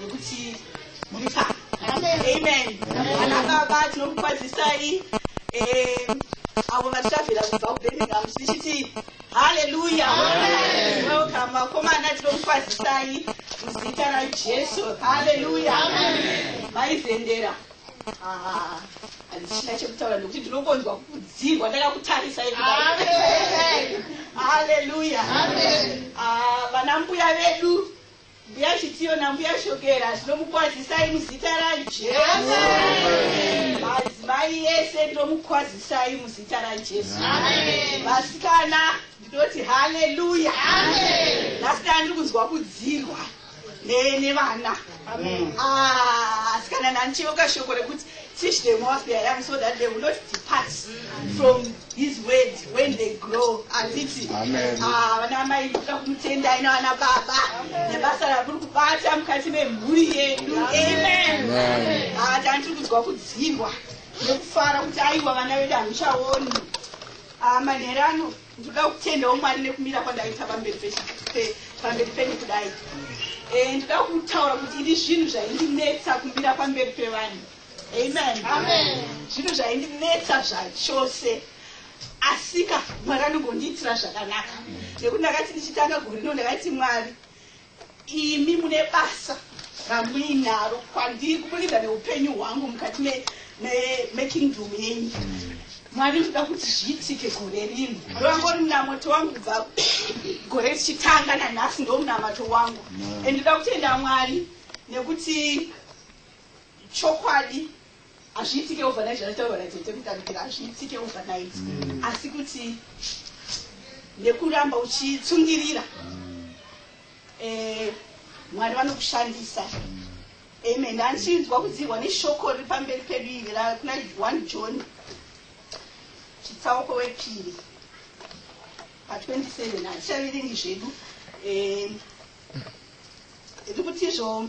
nokuti muri pano amen ana baba tinokukwazisai eh, avo vatitavira kubva kubirmingham tichiti haleluya welcome vakomana tinokukwazisai muzita rajesu haleluya vaizendera Ah, handichina chekutaura nokuti ndinokonzwa kudzirwa ndakakutarisai haleluya Ah, vana mbuya vedu Mbuya Chitiyo naMbuya Shokera zvinomukwazisai muzita raJesu. Madzimai ese ndomukwazisai muzita raJesu. Vasikana ndinoti haleluya. Vasikana ndiri kunzwa kudzirwa nevana. Asikana ah, nanicheuka shoko rekuti Teach them what they are young so that they will not depart from his word when they grow. Anditi. Amen. Ah, vana mai kuda kumutenda ina vana baba. Nebasa rakuri kubata mukati memhuri yedu. Amen. Amen. Ah, tantiri kunzwa kudzirwa nekufara kuti aiwa vana vedu hamuchaoni. Ah, manherano. ndinoda kutendawo mwari nekumira kwandaita pamberi pamberi penyu kudai eh, ndinoda kutaura kuti ini zvinhu zvaindinetsa kumira pamberi pevanhu amen zvinhu zvaindinetsa zvachose asika mwari anongondiitira zvakanaka nekuti ndakati ndichitanga gorino ndakati mwari Imi mune basa ramuinaro kwandiri kuburikidza neupenyu hwangu mukati me, me, mekingdom yenyu mwari ndoda kuti zviitike gore rino ndovangori munamato wangu kubva gore richitanga nanhasi ndo munamato wangu and ndoda kutenda mwari nekuti chokwadi Hazviitike overnight zvataurwa natete kutambira hazviitike overnight mm. asi kuti nekuramba uchitsungirira mm. eh, mwari vanokushandisa mm. amen ndanichinzwa kudzirwa neshoko riri pamberi pedu iri rakuna one john chitsauko wepiri pa27 hatichaviringi zvedu eh, riri kutizvo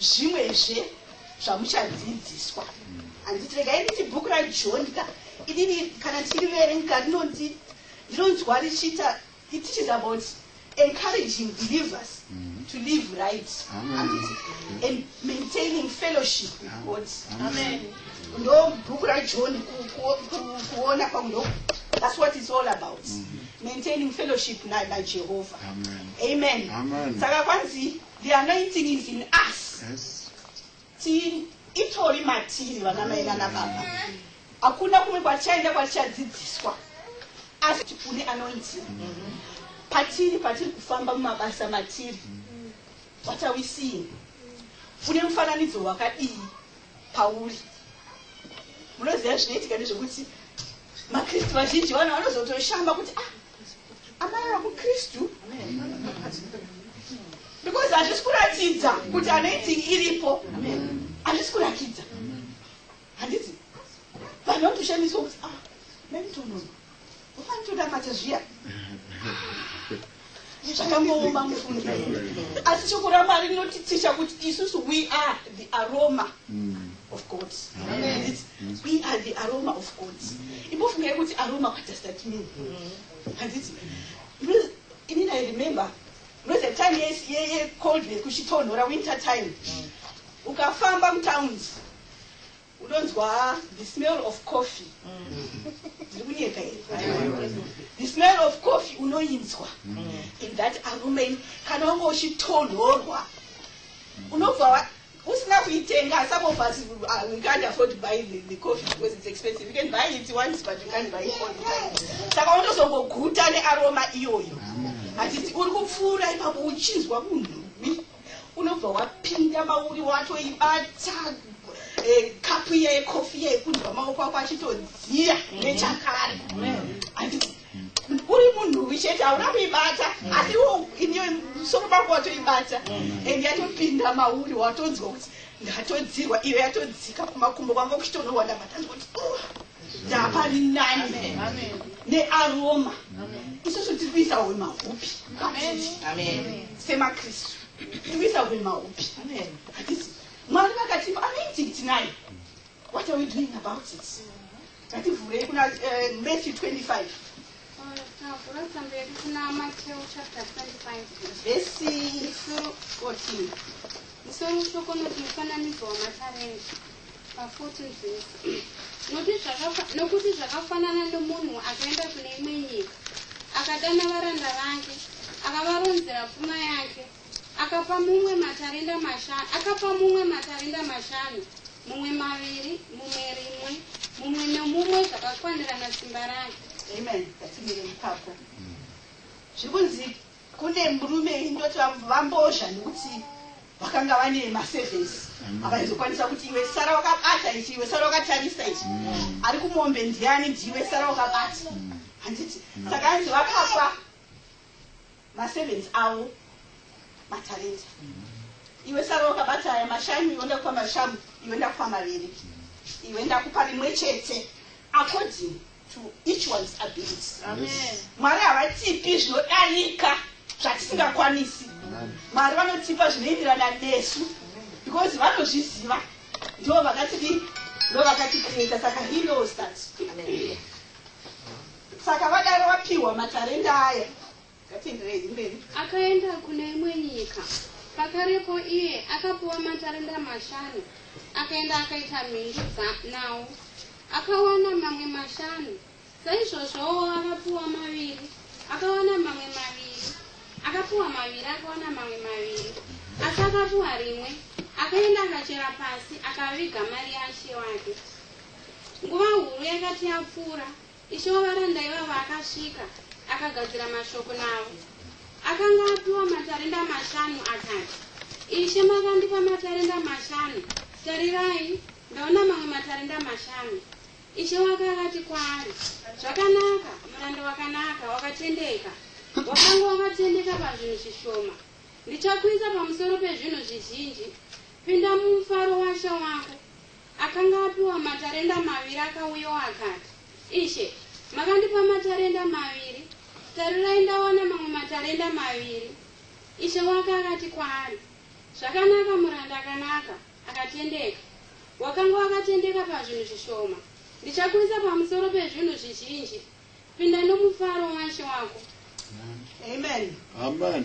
zvimwezve zvamuchadzidziswa handiti regai nditi bhuku rajohn ka inini kana ndichiriverenga rinonzi ndinonzwa richiita it teaches about encouraging believers mm-hmm. to live right and maintaining fellowship with god amen ndo bhuku rajohn kuona kwangu ndo that's what it's all about mm-hmm. maintaining fellowship najehovha amen saka kwanzi The anointing is in us. Yes. Ti itori matiri vana mai nana baba. Hakuna kumwe kwachaenda kwachadzidziswa. Asi tipune anointing. Mm -hmm. Patiri patiri kufamba mumabasa matiri. Mm -hmm. What are we seeing? Une mufananidzo wakadii pauri? Munoziva zvinoitika ndezvekuti maKristu vazhinji vana vanozotoshamba kuti ah amai vakukristu because hazvisi kuratidza kuti anoiting iripo hazvisi kuratidza handiti vanhu vanotoshandiswa kuti ah, mentonoa ufanitodamata zviya zvakangooma mufundi asi shoko ramwari rinotiticha kuti isusu we are the aroma mm. of god We are the aroma of God. Imbofungai kuti aroma what does that mean? Handiti. Inini I remember no the time yes ye ye cold ne kuchitonhora winter time. Ukafamba mutowns unonzwa the smell of coffee. Ndiri kunyeka here? The smell of coffee unoinzwa. In that aroma kana wanga uchitonhorwa unobva usina kuitenga some of us uh, we can't afford to buy the, the coffee because it's expensive you can buy it once but you can't buy it all the time saka unozongoguta nearoma iyoyo hatiti uri kupfuura ipapo uchinzwa kunhuwi unobva wapinda mauri watoibata eh, kapu iye yekofi iye kunzwa maoko ako achitodziya nechakare uri munhu chete hauna kuibata mm. asi iwo iniyo musoro mako watoibata mm. and yatopinda mauri watonzwa kuti ndatodzirwa iyo yatodzika kumakumbo kwanga kuchitonowa ndabatanzwa kuti oh, ndapari nani nearoma isusu tiri kuisa hwe mahupi semakristu tiri kuisa hwe mahupi mwari vakatipa anoitiki tinayo what are we doing about it Tati vhurei kuna uh, Matthew 25. Tavhura tsamba yedu kuna Matthew chapter 25. Vhesi 14. Musoro mushoko unoti mufananidzo wamatarenda pa 14 vhesi. Nokuti zvakafanana nomunhu akaenda kune imwe nyika akadana varanda vake akavaronzera pfuma yake Akapa mumwe matarenda mashanu, akapa mumwe matarenda mashanu, mumwe maviri, mumwe rimwe, mumwe nomumwe zvakakwanirana simba rake. Amen. Ngatimire ipapo. Zviri kunzi kune murume ndoti vambozha nekuti vakanga vane maservice avaizokwanisa kuti iwe sara wakabata ichi iwe sara wakatarisa ichi mm. ari kumombe ndiani ndiwe sara wakabata handiti mm. saka anzi vakapa maservants avo matarenta iwe sara wakabata aya mashanu iwe ndakupa mashanu iwe ndakupa maviri iwe ndakupa rimwe chete according to each one's ability mwari havatipi zvinodarika zvatisingakwanisi mwari vanotipa zvinoenderana nesu because vanozviziva ndo vakatidi ndo vakatikreta saka he knows that Amen. Saka vadaro vapiwa matarenda aya. Ngatenderei mberi. Akaenda kune imwe nyika. Pakarepo iye akapiwa matarenda mashanu. Akaenda akaita mhindu nawo. Akawana mamwe mashanu. Saizvozvowo akapiwa maviri. Akawana mamwe maviri. Akapiwa maviri akawana mamwe maviri. Asi akapiwa rimwe. Akaenda akachera pasi akaviga mari yashe wake. Nguva huru yakati yapfuura. Ishe wavaranda ivavo akasvika, akagadzira mashoko navo. Akanga apiwa matarenda mashanu, akati, Ishe, makandipa matarenda mashanu, tarirai, ndaona mamwe matarenda mashanu. Ishe wake akati kwaari, Zvakanaka, muranda wakanaka, wakatendeka, wakanga wakatendeka pazvinhu zvishoma, ndichakuisa pamusoro pezvinhu zvizhinji, pinda mumufaro washa wako. Akanga apiwa matarenda maviri akauyawo akati, Ishe, makandipa matarenda maviri, tarirai ndawana mamwe matarenda maviri. Ishe wake akati kwaari, Zvakanaka muranda akanaka, akatendeka, wakanga wakatendeka pazvinhu zvishoma, ndichakuisa pamusoro pezvinhu zvizhinji, pinda nomufaro waishe wako. Amen. Amen.